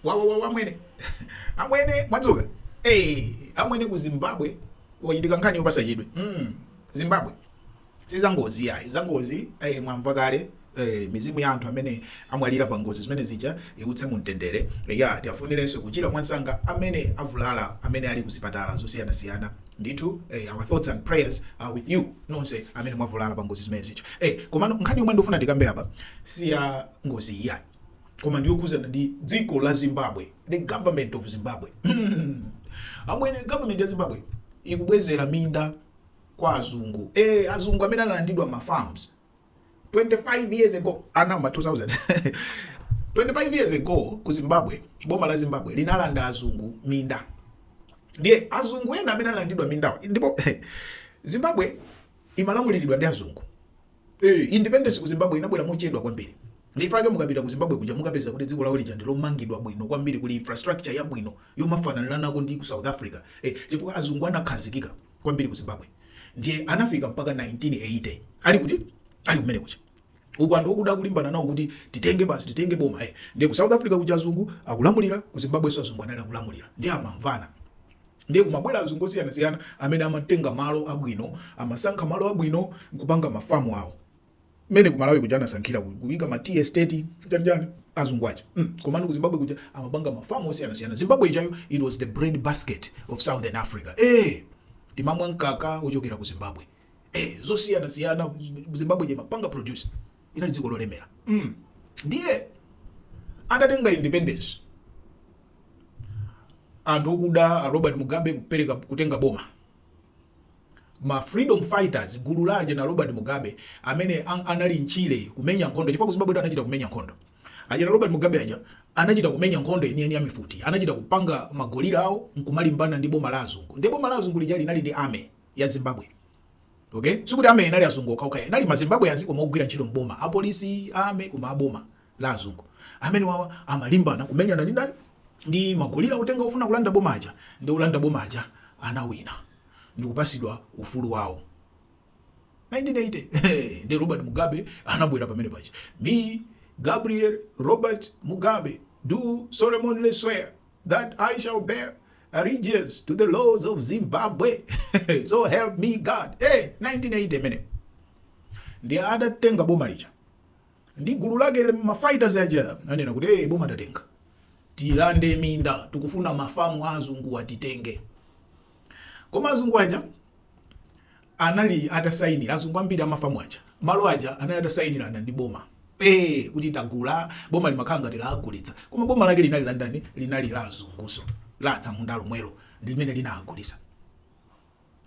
wawawawa amwene amwene mwadzuka eh amwene ku zimbabwe kwachitika nkhani yopatsa chidwi mm. zimbabwe si zangozi ayi zangozi eh, mwamva kale eh, mizimu ya anthu amene amwalira pa ngozi zimene zija iuse mu mtendere eh, ya tiwafunirenso kuchira mwansanga amene avulala amene ali kuzipatala zosiyanasiyana ndithu eh, our thoughts and prayers are with you nonse amene mwavulala pa ngozi zimene zija eh, komano nkhani yomwe ndikufuna ndikambe apa si ya ngozi iyi ayi koma ndiyokhuzana ndi dziko la zimbabwe the government of zimbabwe amwene government ya zimbabwe ikubwezera minda kwa azungu e, azungu amene analandidwa ma farms 25 years ago ana ma 2000 25 years ago ku zimbabwe boma la zimbabwe linalanda azungu minda ndiye azungu ena amene analandidwa mindawa ndi pomwe zimbabwe imalamulidwa ndi azungu Eee independence ku Zimbabwe inabwera mochedwa kwambiri ndichifukwa chake mukapita ku Zimbabwe kuja mukapeza kuti dziko lawo lija ndilomangidwa bwino kwambiri kuli infrastructure yabwino yomafananiranako ndi ku South Africa ee chifukwa azungu anakhazikika kwambiri ku Zimbabwe ndiye anafika mpaka 1980 ali kuti ali kumenekuja uku anthu okuda akulimbana nawo kuti titenge basi titenge boma ee ndiye ku South Africa kuja azungu akulamulira ku Zimbabwenso azungu anali akulamulira ndiye amamvana ndiye kumabwera azungu osiyanasiyana amene amatenga malo abwino amasankha malo abwino nkupanga mafamu awo mmene ku malawi kuja anasankhira kuika ma tea estate chanjani azungu aja mm. komano ku zimbabwe kuja amapanga mafamu osiyanasiyana zimbabwe ijayo it was the bread basket of southern africa eh timamwa mkaka ochokera ku zimbabwe eh zosiyanasiyana zimbabwe ija imapanga produce inali dziko lolemera mm. ndiye atatenga independence anthu okuda a Robert Mugabe kupereka kutenga boma ma freedom fighters gulu la aja ana Robert Mugabe amene an, anali mtchire kumenya nkhondo chifukwa kuzimbabwe anachita kumenya nkhondo aja a Robert Mugabe aja anachita kumenya nkhondo yeniyeni ya mifuti anachita kupanga ma guerrilla awo nkumalimbana ndi boma la azungu ndi boma la azungu lija linali ndi army ya Zimbabwe okay sikuti army inali azungu okhaokha inali mazimbabwe adziko momo ogwira ntchito mboma apolisi army kuma aboma la azungu. Amenewawa amalimbana kumenyana ndi ndani? Ndi ma guerrilla otenga ofuna kulanda boma aja nde olanda boma aja anawina ndikupatsidwa ufulu wawo 1980 eeh nde Robert Mugabe anabwera pamene paja I Gabriel Robert Mugabe do solemnly swear that I shall bear allegiance to the laws of Zimbabwe so help me God eh 1980 imeneyo ndiye atatenga boma lija ndi gulu lake ma fighters aja anena kuti hey, boma tatenga, tilande minda tikufuna mafamu a azunguwa titenge koma azungu aja anali atasayinira azungu ambiri amafamu aja malo aja anali atasayinirana ndi boma eh kuti tagula boma limakhala ngati lagulitsa koma boma lake linali la ndani, linali la azunguso la atsamunda lomwelo ndi limene linagulisa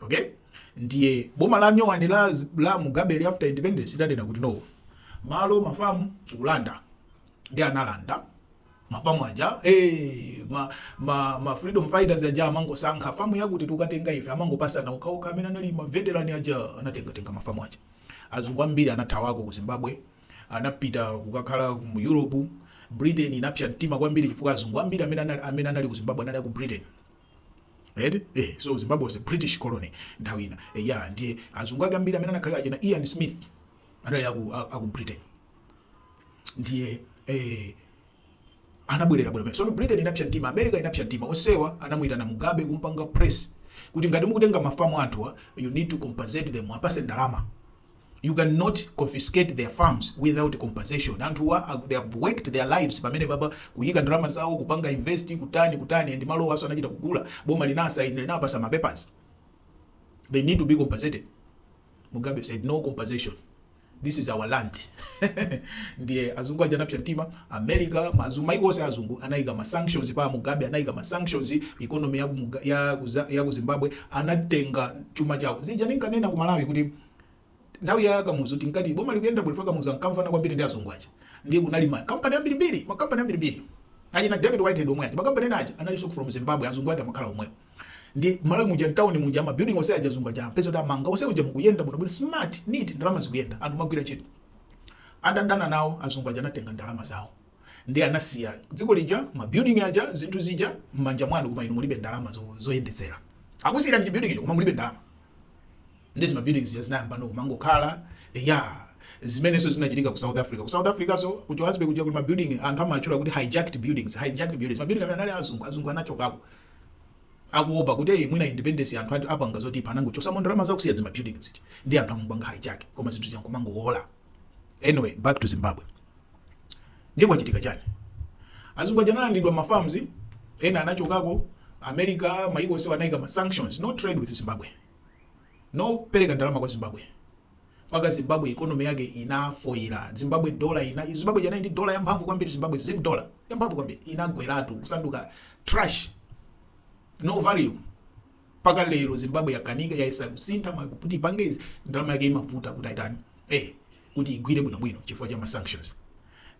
okay ndiye boma la nyowani la, la Mugabe after independence lidanena kuti no malo mafamu tikulanda ndi analanda mafamu aja hey, eh, ma, ma, ma freedom fighters aja amangosankha famu yakuti tukatenga ife amangopasana uka uka amene anali ma veteran aja anatengatenga mafamu aja azungu ambiri anathawako ku zimbabwe anapita kukakhala mu europe britain inapsa mtima kwambiri chifukwa azungu ambiri amene anali ku zimbabwe anali aku britain Eti? Eh, so Zimbabwe was a British colony nthawi ina. Eh, yeah, ndiye azungu ake ambiri amene anakhalira achina Ian Smith anali aku, a- aku Britain. Ndiye eh, anabwerera bwino pamenepo. So Britain inapsa mtima, America inapsa mtima. Onsewa anamuyitana Mugabe kumpanga press kuti ngati mukutenga mafamu anthuwa, you need to compensate them, uwapatse ndalama. You can not confiscate their farms without compensation. Anthuwa aku- they have worked their lives pamenepapa kuyika ndalama zawo kupanga invest kutani kutani and malowaso anachita kugula boma linasaini linawapatsa ma papers. They need to be compensated. Mugabe said no compensation. This is our land. Ndiye azungu aja anapsa mtima America maiko maiko onse azungu anayika ma sanctions pa Mugabe anayika ma sanctions economy ya ku Muga- ya ku Za- ya ku Zimbabwe anatenga chuma chawo. Zija ninkanena ku Malawi kuti Nthawi ya Kamuzu tinkati boma likuyenda bwino chifukwa Kamuzu ankamvana kwambiri ndi azungu aja. Ndiye kunali ma company ambirimbiri, ma company ambirimbiri. Achina David Whitehead omwe aja, ma company ena aja analinso from Zimbabwe, azungu ake amakhala omwewo. Ndiye Malawi muja mtauni muja ma building onse aja azungu aja umapeza kuti amanga onse muja mukuyenda bwino bwino smart neat ndalama zikuyenda anthu amagwira ntchito. Atadana nawo azungu aja anatenga ndalama zawo. Ndiye anasiya dziko lija, ma building aja, zinthu zija m'manja mwanu koma inu mulibe ndalama zo- zoyendetsera. Akusiyirani chi building icho koma mulibe ndalama. nde zimabilding zija zinayambano kumangokhala eya zimeneso zinachitika ku south africa ku south africa so ku johannesburg kuja kuli mabuilding anthu amatchula kuti hijacked buildings hijacked buildings mabuilding amene anali azungu azungu anachokako kuopa kuti eyi mwina independence anthu atipanga zoti anangochotsamo ndalama zawo kusiya dzima buildings zija ndiye anthu amapanga hijack koma zinthu zija n'kumangowola anyway back to zimbabwe ndiye kwachitika chani azungu aja analandidwa ma farms ena anachokako america maiko onse anayika ma sanctions no trade with zimbabwe no pereka ndalama kwa zimbabwe mpaka zimbabwe economy yake inafoira zimbabwe dola ina zimbabwe inali ndi dola yamphamvu kwambiri zimbabwe zim dola yamphamvu kwambiri inagweratu kusanduka trash no value mpaka lero zimbabwe yakanika yayesa kusintha ma- kuti ipange izi ndalama yake imavuta kuti aitani eh kuti igwire bwinobwino chifukwa cha ma sanctions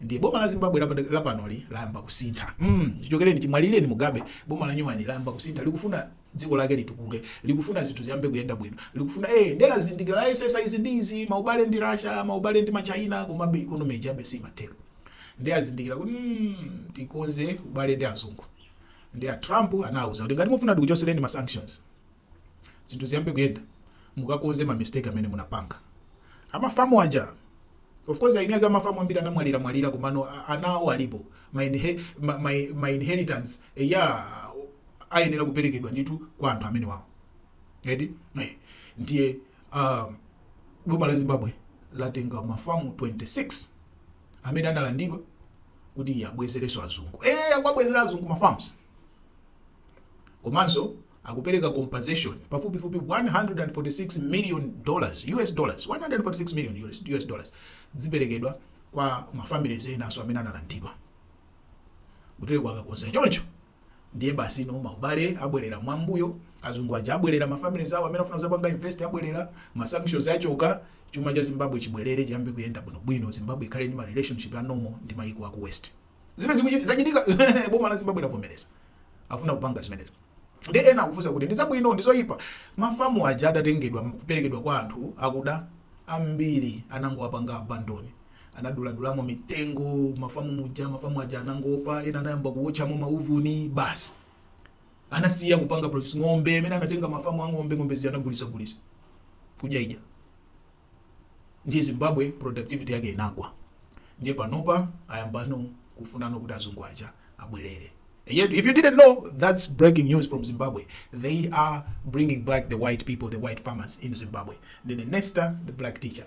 nde boma la zimbabwe lapa- lapanoli layamba kusintha mm, chichokereni chimwalireni mugabe boma la nyuwani layamba kusintha likufuna dziko lake litukuke likufuna zinthu ziyambe kuyenda bwino likufuna eh nde lazindikira layesetsa izi ndi izi maubale ndi russia maubale ndi China komabe ikonomi ijabe simatheka nde azindikira kuti mm, tikonze ubale ndi azungu nde a Trump anawauza kuti ngati mufuna ndikuchosereni ma sanctions zinthu ziyambe kuyenda mukakonze ma mistake amene munapanga amafamu aja of course eni ake amafamu ambiri anamwalira mwalira komano a- ana awo alipo ma, inhe, ma, ma, ma inheritance eh, ya ayenera kuperekedwa ndithu kwa anthu amenewawo eti eh, ndiye um, boma la zimbabwe latenga mafamu 26 amene analandidwa kuti abwezereso azungu ee akuwabwezera azungu ma farms komanso akupereka compensation pafupifupi 146 million dollars us dollars 146 million US, US dollars ziperekedwa kwa mafamilies enanso amene analandidwa kuti akakakonza choncho Ndiye basi ano maubale abwerera mwambuyo, azungu aja abwerera mafamilies awo amene afuna kuzapanga invest abwerera, ma sanctions achoka, chuma cha Zimbabwe chibwerere chiyambe kuyenda bwino bwino, Zimbabwe ikhale ndi ma relationship a normal ndi mayiko aku west. Zimene zikuchitika, zachitika boma la Zimbabwe lavomereza afuna kupanga zimenezo. Ndiye ena akufunsa kuti ndi zabwino ndi zoyipa? Ma farm aja atatengedwa kuperekedwa kwa anthu akuda, ambiri anangowapanga abandon. anaduladulamo mitengo mafamu muja mafamu aja anangofa ena anayamba kuwotchamo mauvuni basi anasiya kupanga produce ng'ombe amene anatenga mafamu a ng'ombe ng'ombe zija anagulitsagulitsa kudyaidya ndiye zimbabwe productivity yake inagwa ndiye panopa ayambano kufunano kuti azungu aja abwerere Yet, if you didn't know, that's breaking news from Zimbabwe. They are bringing back the white people, the white farmers in Zimbabwe. Ndithu ine ndi the black teacher.